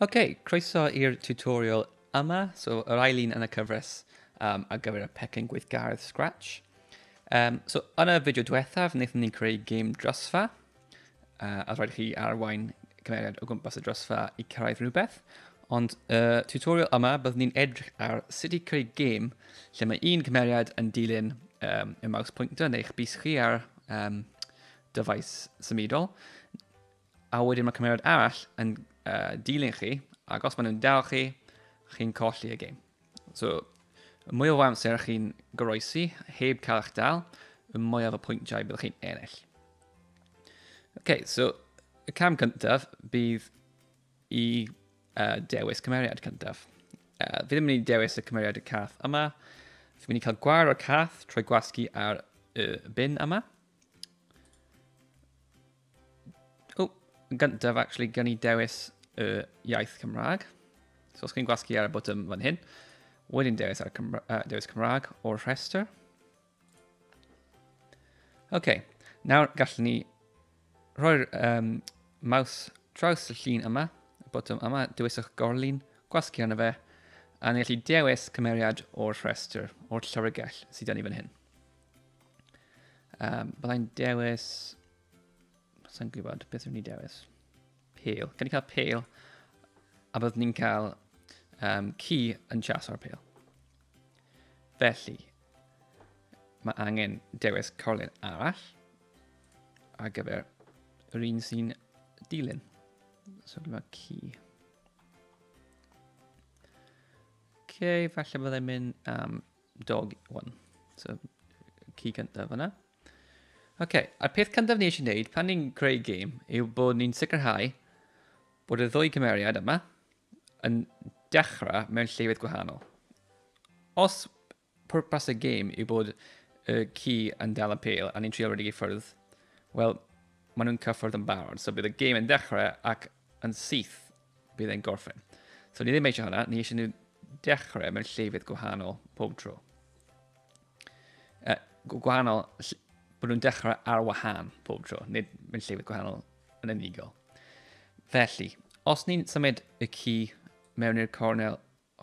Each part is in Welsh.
Ok, croeso i'r tutorial yma, so yr ail un yn y cyfres um, ar gyfer y pecyn gweithgaredd Scratch. Um, so yn y fideo diwethaf, wnaethon ni'n creu gêm drosfa, uh, a rhaid chi arwain cymeriad o gwmpas y drosfa i cyrraedd rhywbeth, ond y uh, tutorial yma byddwn ni'n edrych ar sut i creu gêm lle mae un cymeriad yn dilyn um, y maws pwyntyn neu'ch bus chi ar um, dyfais symudol, A wedyn mae cymeriad arall yn uh, dilyn chi, ac os maen nhw'n dal chi, chi'n colli y game. So, y mwyaf o amser chi'n goroesi, heb cael eich dal, y mwyaf o pwyntiau byddwch chi'n ennill. OK, so y cam cyntaf bydd i uh, dewis cymeriad cyntaf. Uh, fi ddim yn mynd i dewis y cymeriad y cath yma. Fi'n mynd i cael gwar o'r cath trwy gwasgu ar y bin yma. O, yn gyntaf, actually, gan i dewis y iaith Cymraeg. So os chi'n gwasgu ar y botwm fan hyn, wedyn dewis, ar Cymra uh, dewis Cymraeg o'r rhestr. Oce, okay. nawr gallwn ni rhoi'r um, maws traws y llun yma, y botwm yma, dewiswch gorlun, gwasgu arno fe, a ni'n gallu dewis cymeriad o'r rhestr, o'r llyfrgell sydd gen i fan hyn. Um, byddai'n dewis... Sa'n gwybod beth yw'n ni dewis. Pale. Gan i cael pale. A byddwn ni'n cael um, ci yn chas o'r pale. Felly, mae angen dewis corlun arall ar gyfer yr un sy'n dilyn. So gyda ci. Ok, falle byddai'n mynd am um, Dog, one. So, ci cyntaf yna. Oce, okay, a'r peth cyntaf ni eisiau gwneud pan ni'n creu game yw bod ni'n sicrhau bod y ddwy cymeriad yma yn dechrau mewn llefydd gwahanol. Os pwrpas y game yw bod y ci yn dal y pel a ni'n trio redig i ffwrdd, wel, maen nhw'n cyffwrdd yn barod. So bydd y game yn dechrau ac Yn syth, bydd e'n gorffen. So ni ddim eisiau hwnna, ni eisiau nhw dechrau mewn llefydd gwahanol pob tro. Uh, gwahanol, bod nhw'n dechrau ar wahân pob tro, nid mewn llefydd gwahanol yn unigol. Felly, os ni'n symud y ci mewn i'r cornel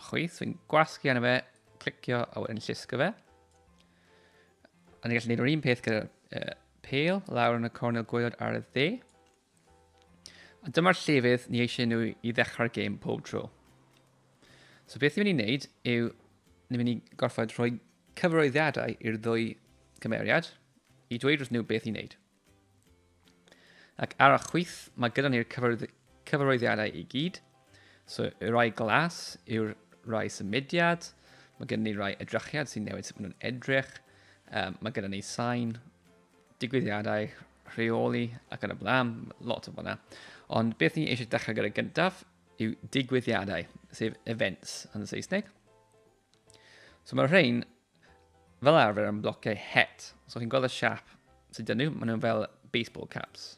chwith, so fi'n gwasgu arno fe, clicio a wedyn llusgo fe. A ni'n gallu gwneud yr un peth gyda'r uh, pale lawr yn y cornel gwaelod ar y dde. A dyma'r llefydd ni eisiau nhw i ddechrau'r gêm pob tro. So beth ni'n mynd i wneud yw, ni'n mynd i gorfod rhoi cyfroeddiadau i'r ddwy cymeriad i dweud wrth nhw beth i wneud. Ac ar y chwith, mae gyda ni'r cyfarwyddiadau i gyd. So, y rai glas yw'r rai symudiad. Mae gyda ni rai edrychiad sy'n newid sut maen nhw'n edrych. Um, mae gyda ni sain, digwyddiadau, rheoli ac yn y blaen, lot o fyna. Ond beth ni eisiau dechrau gyda gyntaf yw digwyddiadau, sef events yn y Saesneg. So mae'r rhain fel arfer yn blociau het. So chi'n gweld y siap sydd dyn nhw, maen nhw'n fel baseball caps.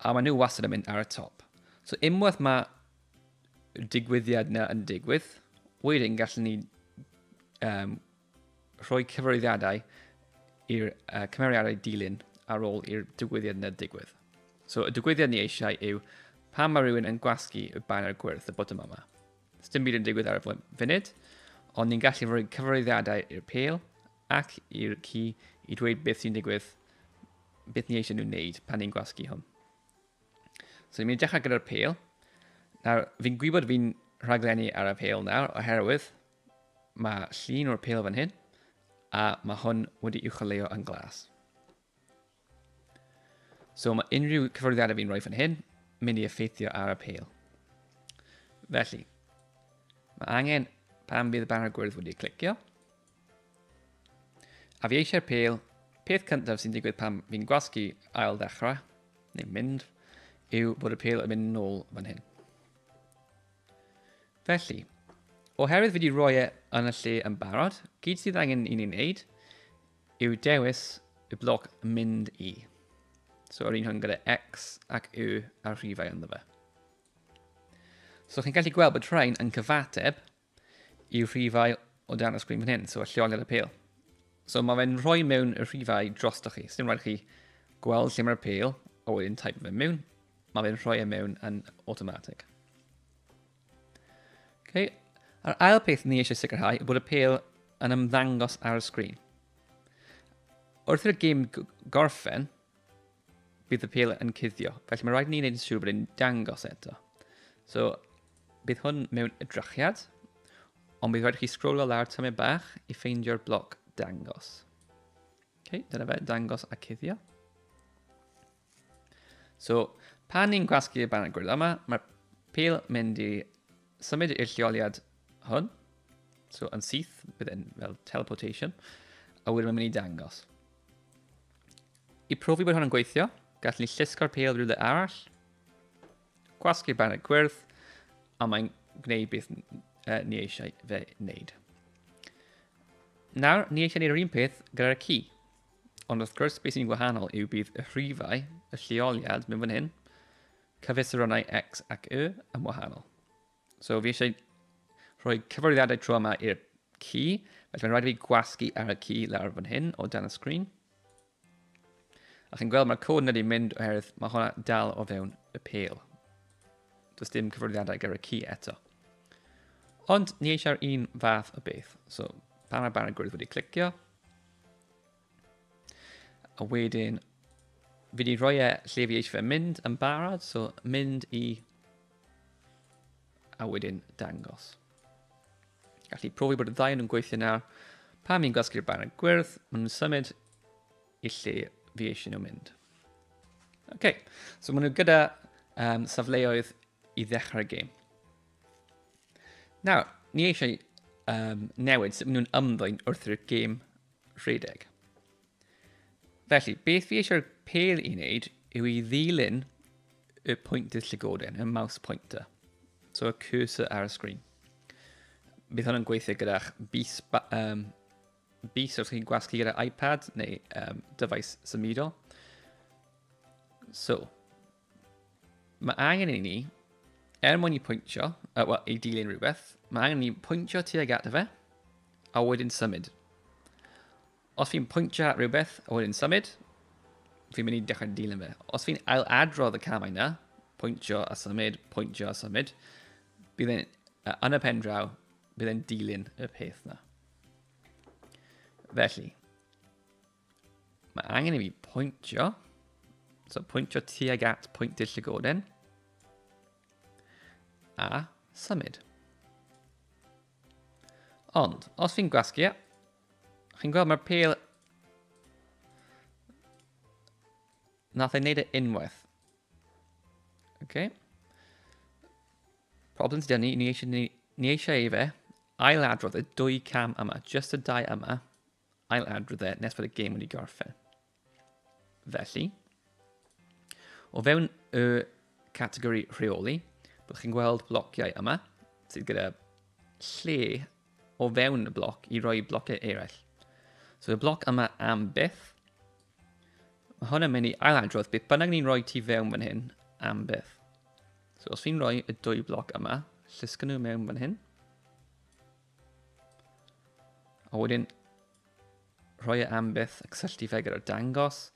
A maen nhw wastad yn mynd ar y top. So unwaith mae digwyddiad na yn digwydd, wedyn gallwn ni um, rhoi cyfarwyddiadau i'r uh, cymeriadau dilyn ar ôl i'r digwyddiad na digwydd. So y digwyddiad ni eisiau yw pan mae rhywun yn gwasgu y banner gwyrdd y bottom yma. Sdim byd yn digwydd ar y funud, ond ni'n gallu rhoi cyfarwyddiadau i'r pel ac i'r ci i dweud beth sy'n digwydd, beth ni eisiau nhw'n wneud pan ni'n gwasgu hwn. So ni'n mynd i dechrau gyda'r pel. Nawr, fi'n gwybod fi'n rhaglenni ar y pel nawr, oherwydd mae llun o'r pel fan hyn, a mae hwn wedi i'w choleo yn glas. So mae unrhyw cyfwyddiadau fi'n rhoi fan hyn, mynd i effeithio ar apel. Felly, mae angen pan bydd y banner gwyrdd wedi clicio. A fi eisiau'r pel, peth cyntaf sy'n digwydd pan fi'n gwasgu ail ddechrau, neu mynd, yw bod y pel yn mynd nôl fan hyn. Felly, oherwydd fi wedi rhoi e yn y lle yn barod, gyd sydd angen i ni'n neud Yw dewis y bloc mynd i. So yr un hwn gyda x ac y ar rhifau ynddo fe. So chi'n gallu gweld bod rhain yn cyfateb i rhifau o dan y sgrin fan hyn, so y lleoliad y pel. So mae fe'n rhoi mewn y rhifau drosto chi. Sdim rhaid chi gweld lle mae'r pel, a wedyn type fe mewn. Mae fe'n rhoi e mewn yn automatic. Okay. A'r ail peth ni eisiau sicrhau yw bod y pel yn ymddangos ar y sgrin. Wrth i'r gym gorffen, bydd y pel yn cuddio. Felly mae rhaid ni wneud yn siŵr bod e'n dangos eto. So, bydd hwn mewn edrychiad, ond bydd rhaid chi sgrolo lawr tymau bach i ffeindio'r bloc dangos. Okay, dyna fe, dangos a cuddio. So, pan ni'n gwasgu y baned gwyrdd yma, mae'r pil mynd i symud i'r lleoliad hwn. So, yn syth, bydd e'n fel teleportation. A wedyn mae'n mynd i dangos. I profi bod hwn yn gweithio, gall ni llusgo'r pil rhywle arall. Gwasgu'r baned gwyrdd, a mae'n gwneud beth uh, ni eisiau fe wneud. Nawr, ni eisiau gwneud yr un peth gyda'r ci. Ond wrth gwrs, beth sy'n wahanol yw bydd y rhifau, y lleoliad mewn fan hyn, cyfesuronnau X ac Y yn wahanol. So fi eisiau rhoi cyfarwyddiadau tro yma i'r ci, felly mae'n rhaid i fi gwasgu ar y ci lawr fan hyn o dan y sgrin. A chi'n gweld mae'r cod yn wedi mynd oherwydd mae hwnna dal o fewn y pel. Does dim cyfarwyddiadau gyda'r ci eto. Ond ni eisiau'r un fath o beth. So, pan mae barn y gwyrdd wedi clicio, A wedyn, fi wedi rhoi e lle fi eisiau fe mynd yn barod, so mynd i... A wedyn dangos. Gallu profi bod y ddau yn gweithio nawr. Pan fi'n gwasgu'r banner gwyrdd, maen nhw'n symud i lle fi eisiau nhw mynd. OK, so maen nhw gyda um, safleoedd i ddechrau'r gêm. Nawr, ni eisiau um, newid sut maen nhw'n ymddwyn wrth i'r gêm rhedeg. Felly, beth fi eisiau'r pêl i wneud yw i ddilyn y pwyntydd llygoden, y mouse pointer. So, y cursor ar y sgrin. Bydd hwn yn gweithio gyda'ch bus, um, bus os chi'n gwasgu gyda iPad neu um, dyfais symudol. So, Mae angen i ni, er mwyn i pwyntio, uh, well, i dilyn rhywbeth, mae angen i ni pwyntio tuag at fe, a wedyn symud. Os fi'n pwyntio at rhywbeth, a wedyn symud, fi'n mynd i dechrau dilyn fe. Os fi'n ail adrodd y camau yna, pwyntio a symud, pwyntio a symud, bydd e'n, uh, yn y pen draw, bydd e'n dilyn y peth yna. Felly, Mae angen i fi pwyntio. So pwyntio tuag at pwynt dill y goden. A symud. Ond, os fi'n gwasgu, e, chi'n gweld mae'r pel... Nath ei wneud e unwaith. Okay. Problem sydd gen ni, ni eisiau, ni, ni eisiau ei fe ail adrodd y dwy cam yma, just y dau yma, ail adrodd e nes bod y gêm wedi gorffen. Felly, o fewn y categori rheoli, byddwch chi'n gweld blociau yma sydd gyda lle o fewn y bloc i roi blociau eraill. So y bloc yma am byth, mae hwn yn mynd i ailadrodd beth bynnag ni'n rhoi ti fewn fan hyn am byth. So os fi'n rhoi y dwy bloc yma, llysgyn nhw mewn fan hyn. A wedyn, rhoi e am byth a cysylltu fe gyda'r dangos.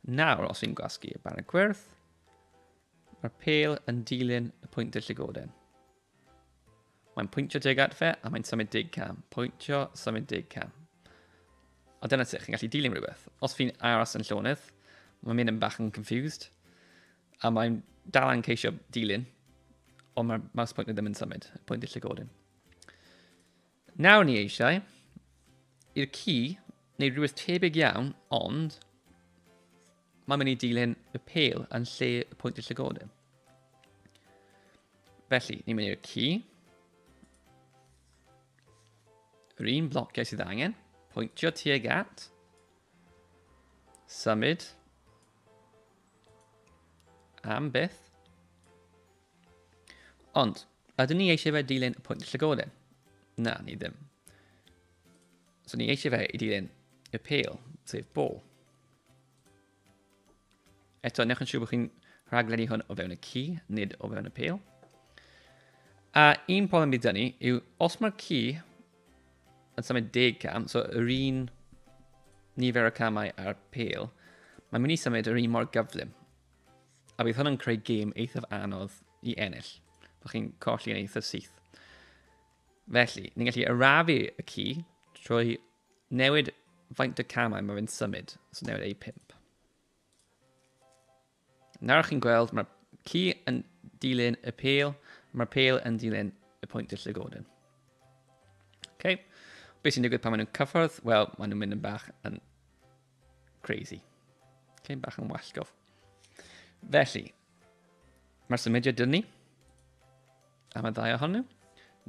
Nawr, os fi'n gwasgu y banner gwyrdd, mae'r pel yn dilyn y pwynt y llygoden. Mae'n pwyntio deg at fe a mae'n symud deg cam. Pwyntio, symud deg cam. A dyna sut chi'n gallu dilyn rhywbeth. Os fi'n aros yn llonydd, mae'n mynd yn bach yn confused, a mae'n dal yn ceisio dilyn, ond mae'r mouse pointer ddim yn symud, y pwynt i'r llygodyn. Nawr ni eisiau i'r ci neu rhywbeth tebyg iawn, ond mae'n mynd i dilyn y pel yn lle y pwynt y llygoden. Felly, ni'n mynd i'r ci. Yr un blociau sydd angen. Pwyntio tuag at. Symud. Am byth. Ond, Ydyn ni eisiau fe dilyn y pwynt llygoden? Na, ni ddim. So ni eisiau fe i dilyn y pêl, sef bol. Eto, newch yn siŵr bod chi'n rhaglenni hwn o fewn y ci, nid o fewn y pêl. A un problem bydd ni yw, os mae'r ci yn symud deg cam, so yr un nifer o camau a'r pêl, mae'n mynd i symud yr un mor gyflym. A bydd hwn yn creu gêm eithaf anodd i ennill. Byddwch chi'n colli yn eithaf syth. Felly, ni'n gallu arafu y ci trwy newid faint y camau mae fe'n symud, so newid ei pimp. Nawr chi'n gweld, mae'r ci yn dilyn y pel, mae'r pel yn dilyn y pwynt y llygoden. Okay. Beth sy'n digwydd pan maen nhw'n cyffordd? Wel, maen nhw'n mynd yn bach yn Crazy. Cyn bach yn wallgof. Felly, mae'r symudiad dyn ni am y ddau ohonyn nhw.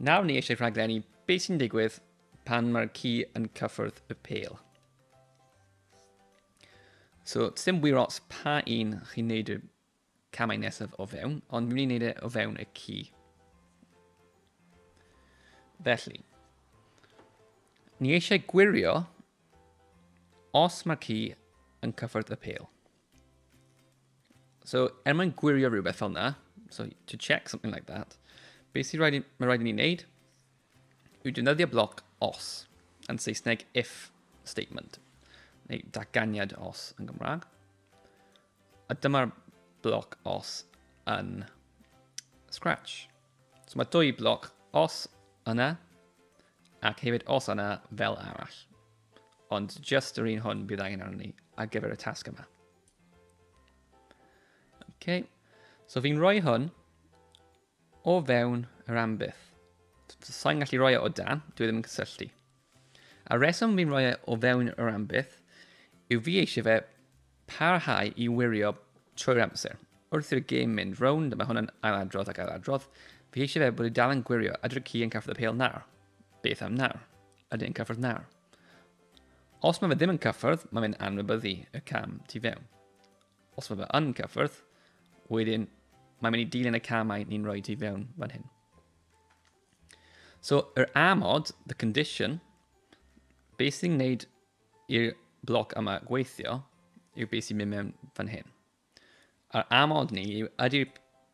Nawr ni eisiau rhaglenni beth sy'n digwydd pan mae'r ci yn cyffwrdd y pel. So, dim wir os pa un chi'n neud y camau nesaf o fewn, ond mi'n mynd i wneud e o fewn y ci. Felly, ni eisiau gwirio os mae'r ci yn cyffwrdd y pel. So, er mwyn gwirio rhywbeth fel yna, so to check something like that, beth sy'n rhaid, mae rhaid i ni wneud yw defnyddio bloc os, yn Saesneg if statement, neu datganiad os yn Gymraeg. A dyma'r bloc os yn Scratch. So mae dwy bloc os yna, ac hefyd os yna fel arall. Ond just yr un hwn bydd angen arno ni ar gyfer y tasg yma. OK. So fi'n rhoi hwn O fewn yr ambyth. Sa'n gallu roi e o dan, dwi ddim yn cysylltu. A reswm fi'n roi e o fewn yr ambyth yw fi eisiau fe parhau i wirio trwy'r amser. Wrth i'r gêm mynd rownd, a mae hwnna'n ailadrodd ac ailadrodd, fi eisiau fe bod i dal yn gwirio a dwy'r ci yn caffod y pel nawr. Beth am nawr? Ydy yn cyffwrdd nawr? Os mae fe ddim yn cyffwrdd, mae fe'n anwybyddu y cam tu fewn. Os mae fe yn cyffwrdd, wedyn mae'n mynd i dilyn y camau ni'n rhoi ti fewn fan hyn. So, yr amod, the condition, beth sy'n gwneud i'r bloc yma gweithio yw beth sy'n mynd mewn fan hyn. A'r amod ni yw ydy'r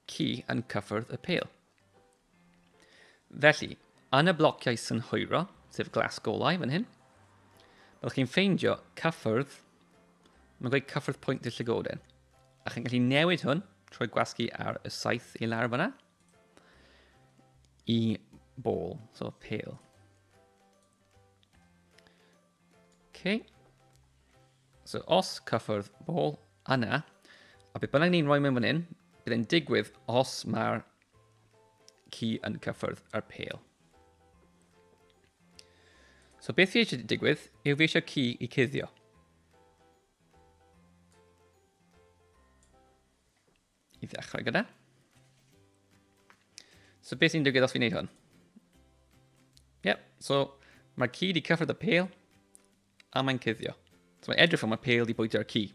ci yn cyffwrdd y pel. Felly, yn y blociau synhwyro, sef glas golau fan hyn, byddwch chi'n ffeindio cyffyrdd, mae'n gweud cyffyrdd pwynt y llygoden. A chi'n gallu newid hwn trwy gwasgu ar y saith i lawr fyna i bol, so pale. Okay. So os cyffwrdd ball yna, a beth bynnag ni'n rhoi mewn fan hyn, bydd e'n digwydd os mae'r ci yn cyffwrdd yr pêl. So beth fi eisiau digwydd yw fi eisiau ci i cuddio. I ddechrau gyda. So beth sy'n digwydd os fi'n neud hwn? Yep, so mae'r ci wedi cyffred y pel a mae'n cuddio. So mae'n edrych fel mae'r pel wedi bwytio'r ci.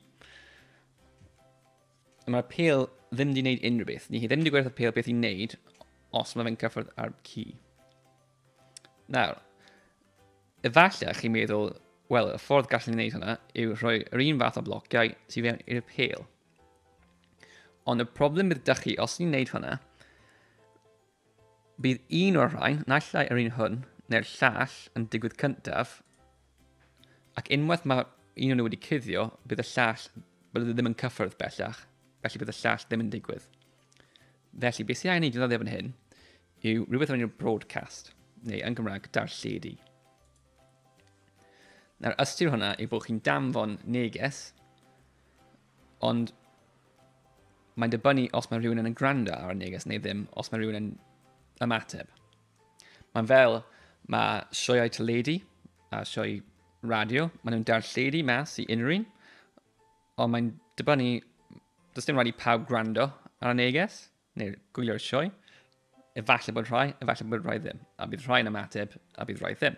Mae'r pel ddim wedi gwneud unrhyw beth. Ni hi ddim wedi gwerth y pel beth i'n neud os mae fe'n cyffred ar ci. Nawr, efallai chi'n meddwl, wel, y ffordd gallwn ni wneud hwnna yw rhoi yr un fath o blociau sydd fewn i'r pel. Ond y problem bydd dych chi, os ni'n neud hwnna, bydd un o'r rhain, naill ai yr un hwn, neu'r llall yn digwydd cyntaf, ac unwaith mae un o'n nhw wedi cuddio, bydd y llall, bydd e ddim yn cyffyrdd bellach, felly bydd y llall ddim yn digwydd. Felly, beth sy'n angen ei ddyddio fan hyn yw rhywbeth o'n i'n broadcast, neu yn Gymraeg, darlledu. Nawr, ystyr hwnna yw bod chi'n damfon neges Ond mae'n dibynnu os mae rhywun yn gwrando ar y neges neu ddim, os mae rhywun yn ymateb. Mae'n fel, mae sioeau teledu a sioe radio, maen nhw'n darlledu mas i unrhyw un, ond mae'n dibynnu, does dim rhaid i pawb gwrando ar y neges. Neu gwylio'r sioe. Efallai bod rhai, efallai bod rhai ddim, a bydd rhai'n ymateb, a bydd rhai ddim.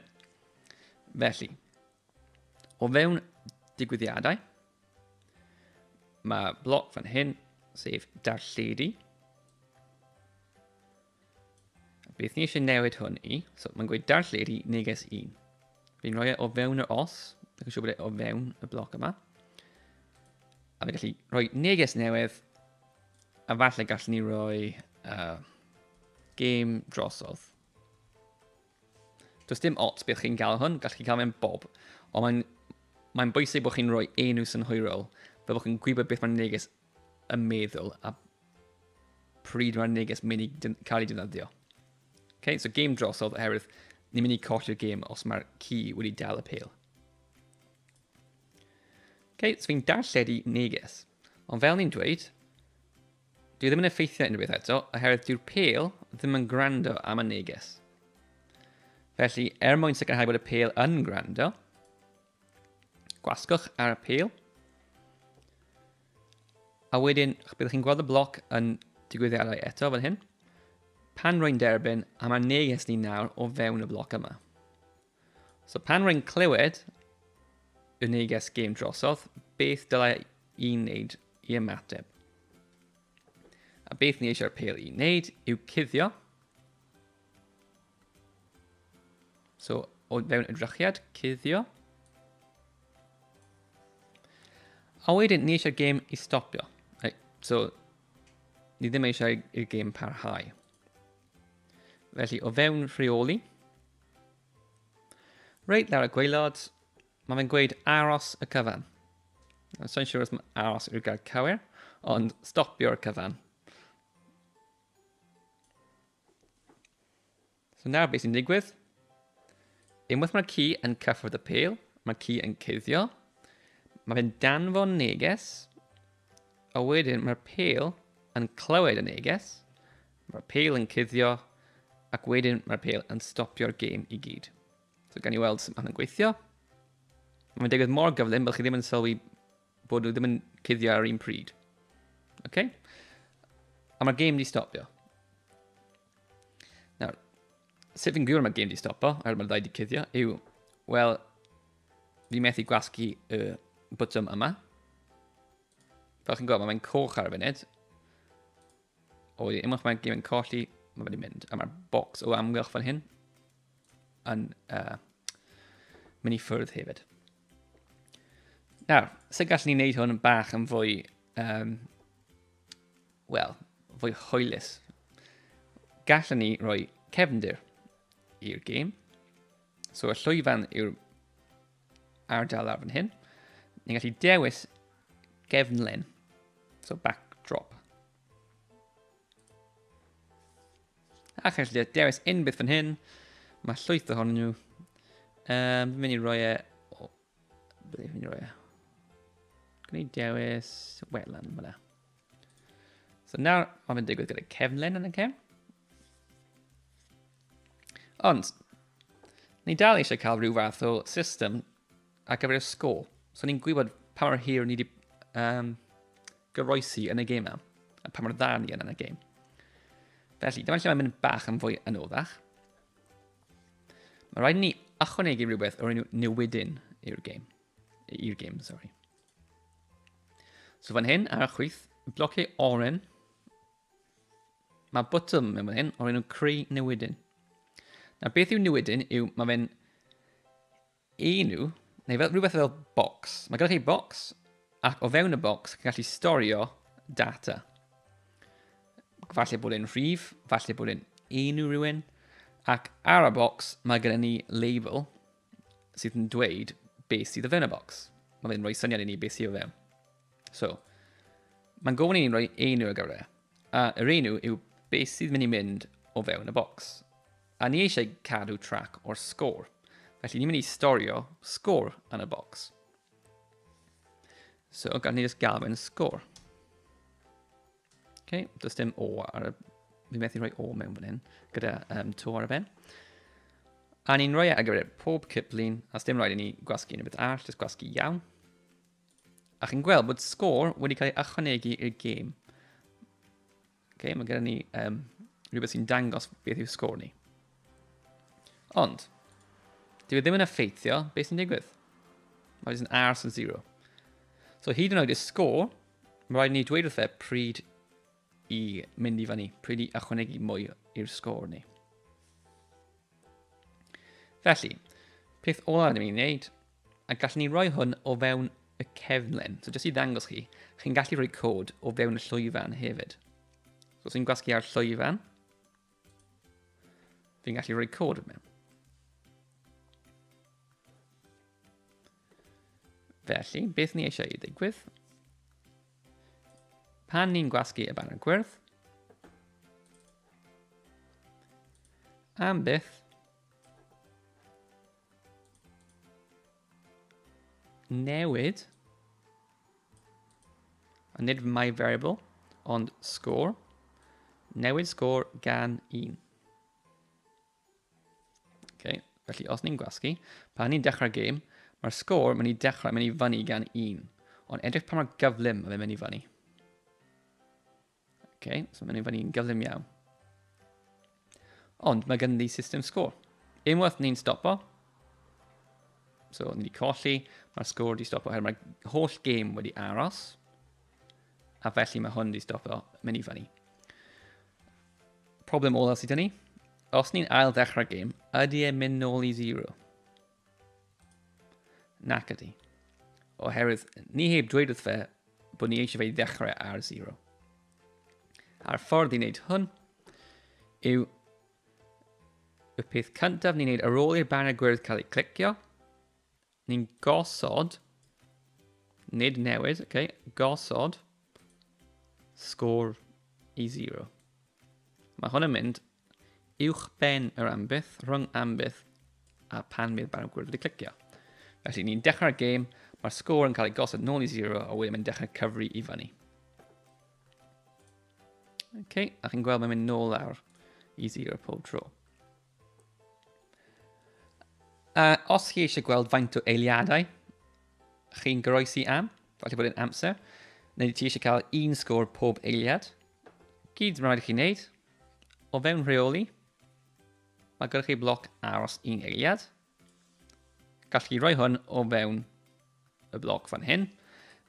Felly, o fewn digwyddiadau, mae bloc fan hyn, sef darlledu. Beth ni eisiau newid hwn i, so mae'n gweud darlledu neges 1. Fi'n rhoi e o fewn yr os, ac yn siŵr bod e o fewn y bloc yma. A fe gallu rhoi neges newydd A falle gallwn ni roi uh, game drosodd. Does dim ots beth chi'n cael hwn, gallwch chi cael mewn bob. Ond mae'n mae bwysig bod chi'n rhoi enw synhwyrol, fe bod chi'n gwybod beth mae'n neges y meddwl a pryd mae'r neges mynd i cael ei defnyddio. Okay, so game drosodd oherwydd ni'n mynd i colli'r game os mae'r ci wedi dal y pel. Okay, so fi'n darlledu neges. Ond fel ni'n dweud, dwi ddim yn effeithio unrhyw beth eto, oherwydd dyw'r pel ddim yn gwrando am y neges. Felly, er mwyn sicrhau bod y pel yn gwrando, gwasgwch ar y pel, a wedyn byddwch chi'n gweld y bloc yn digwyddiadau eto fan hyn, pan rwy'n derbyn a mae'r neges ni nawr o fewn y bloc yma. So pan rwy'n clywed y neges gêm drosodd, beth dylai i'n wneud i ymateb? A beth ni eisiau'r pel i'n wneud yw cuddio. So, o fewn edrychiad, cuddio. A wedyn, ni eisiau'r gêm i stopio. So, ni ddim eisiau i'r gêm parhau. Felly, o fewn rheoli, reit lawr y gweilod, mae fe'n gweud aros y cyfan. So'n siŵr os mae aros yw'r gair cywir, ond stopio'r cyfan. So nawr beth sy'n digwydd? Unwaith mae'r ci yn cyffwrdd y pel, mae'r ci yn cuddio. Mae fe'n danfon neges A wedyn mae'r pêl yn clywed y neges, mae'r pêl yn cuddio, ac wedyn mae'r pêl yn stopio'r gêm i gyd. So gan i weld sut mae'n gweithio. Mae'n digwydd mor gyflym bod chi ddim yn sylwi bod nhw ddim yn cuddio ar un pryd. Okay? A mae'r gêm wedi stopio. Nawr, sut fi'n gwybod mae game di stopo, er mae'r ddau di cuddio, yw, wel, fi methu gwasgu y bwtwm yma. Fel chi'n gwybod, mae'n coch ar y funud. O, i unwaith mae'n game yn colli, mae wedi mynd. A mae'r box o amgylch fan hyn yn uh, mynd i ffwrdd hefyd. Nawr, sut gallwn ni wneud hwn bach yn fwy um, Wel, fwy hwylus. Gallwn ni roi cefndir i'r gêm. So y llwyfan yw'r ardal ar fan hyn. Ni'n gallu dewis gefnlen. So backdrop. A chi'n gallu dewis unbydd fan hyn. Mae llwyth ohonyn nhw. Um, mynd i roi e... O, beth mynd i roi e? Gwneud dewis welan fyna. So nawr, mae fe'n digwydd gyda cefnlen yn y cefn. Ond, ni dal eisiau cael rhyw fath o system ar gyfer y sgôl. So ni'n gwybod pa mor hir ni wedi um, goroesi yn y gêm yma, a pa mor dda ni yn y gêm. Felly, dyma lle mae'n mynd bach yn fwy yn oddach. Mae rhaid ni ychwanegu rhywbeth o'r enw newidyn i'r gêm. I'r gêm, sorry. So fan hyn ar y chwith, blociau oren. Mae bottom mewn fan hyn o'r enw creu newidyn. Na beth yw newidyn yw mae fe'n enw, neu fel, rhywbeth fel box. Mae gyda chi box, ac o fewn y box, chi'n gallu storio data. Falle bod e'n rhif, falle bod e'n enw rhywun, ac ar y box mae gyda ni label, sydd yn dweud beth sydd y fewn y bocs. Mae fe'n rhoi syniad i ni beth sydd o fewn. So, mae'n gofyn i ni'n rhoi enw ar gyfer e. A yr enw yw beth sydd mynd i mynd o fewn y bocs. A ni eisiau cadw trac o'r sgôr. Felly ni'n mynd i storio sgôr yn y bocs. So, gan ni just gael fe'n sgôr. Okay, does dim O ar y... Fi methu rhoi O mewn fan hyn, gyda um, to ar y ben. A ni'n rhoi e ar gyfer pob cyplun, a dim rhaid i ni gwasgu unrhyw beth arall, jyst gwasgu iawn. A chi'n gweld bod sgôr wedi cael ei ychwanegu i'r gêm. Okay, mae gyda ni um, rhywbeth sy'n dangos beth yw sgôr ni. Ond, dwi e ddim yn effeithio beth sy'n digwydd. Mae jyst yn ars yn zero. So hyd yn oed y sgôr Mae rhaid ni dweud wrthe pryd i mynd i fyny, pryd i ychwanegu mwy i'r sgôr ni. Felly, peth olaf rydym ni'n gwneud, a gallwn ni roi hwn o fewn y cefnlen. So jyst i ddangos chi, chi'n gallu rhoi cod o fewn y llwyfan hefyd. So os i'n gwasgu ar llwyfan, fi'n gallu rhoi cod mewn. Felly, beth ni eisiau i ddigwydd? Pan ni'n gwasgu y banner gwyrdd, am byth, newid, a nid my variable, ond score, newid score gan 1. Okay. Felly, os ni'n gwasgu, pan ni'n dechrau gêm, mae'r sgôr mynd i dechrau mynd i fyny gan un. Ond edrych pa mor gyflym mae'n mynd i fyny. Okay, so mae'n mynd i fyny yn gyflym iawn. Ond mae gen i system sgôr. Unwaith ni'n stopo, so ni wedi colli, mae'r sgôr wedi stopo, oherwydd mae'r holl gêm wedi aros, a felly mae hwn wedi stopo mynd i fyny. Problem olaf sydd ni. Os ni'n ail ddechrau gêm, ydy e'n mynd nôl i zero? Nac ydy. Oherwydd, ni heb dweud wrth fe bod ni eisiau fe i ddechrau ar zero. A'r ffordd i wneud hwn yw y peth cyntaf ni'n wneud ar ôl i'r banner gwyrdd cael ei clicio, Ni'n gosod, nid newid, oce, okay, gosod sgôr i 0. Mae hwn yn mynd uwch ben yr ambyth, rhwng ambyth a pan bydd barn gwyrdd wedi clicio. Felly ni'n dechrau'r gêm, mae'r sgôr yn cael ei gosod nôl i 0 a wedyn mae'n dechrau cyfri i fyny. OK, a chi'n gweld mae'n mynd nôl lawr i 0 pob tro. Uh, os chi eisiau gweld faint o eiliadau chi'n goroesi am, falle bod yn amser, neu ti eisiau cael un sgôr pob eiliad, gyd mae'n rhaid i chi wneud, o fewn rheoli, mae gyda chi bloc aros un eiliad, Gall chi roi hwn o fewn y bloc fan hyn.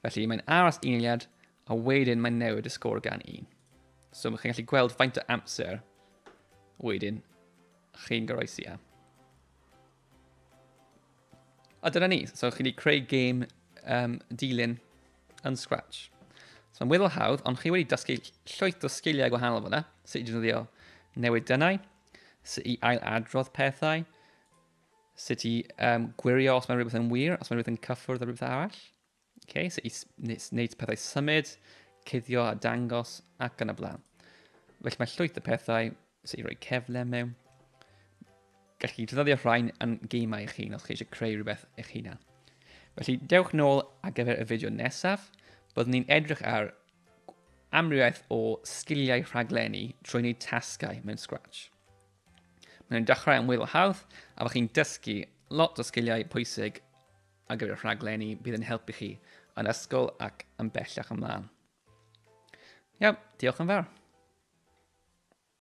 Felly mae'n aros un eiliad a wedyn mae'n newid y sgôr gan un. So mae chi'n gallu gweld faint o amser wedyn chi'n goroesi am. A dyna ni. So chi wedi creu gêm um, dilyn yn Scratch. So mae'n weddol hawdd, ond chi wedi dysgu llwyth o sgiliau gwahanol fyna, sut i defnyddio newid dynnau, sut i ail-adrodd pethau, sut i um, gwirio os mae rhywbeth yn wir, os mae rhywbeth yn cyffwrdd â rhywbeth arall, okay? sut i wneud pethau symud, cuddio a dangos ac yn y blaen. Felly mae llwyth y pethau sut i roi cefle mewn. Gallwch chi ddefnyddio rhain yn geimau eich hun os chi eisiau creu rhywbeth eich hunan. Felly, dewch nôl ar gyfer y fideo nesaf, byddwn ni'n edrych ar amrywiaeth o sgiliau rhaglenni trwy wneud tasgau mewn Scratch. Mae'n dechrau yn wyl hawdd a fydwch chi'n dysgu lot o sgiliau pwysig ar gyfer rhaglenni bydd yn helpu chi yn ysgol ac yn bellach ymlaen. Iawn, diolch yn fawr.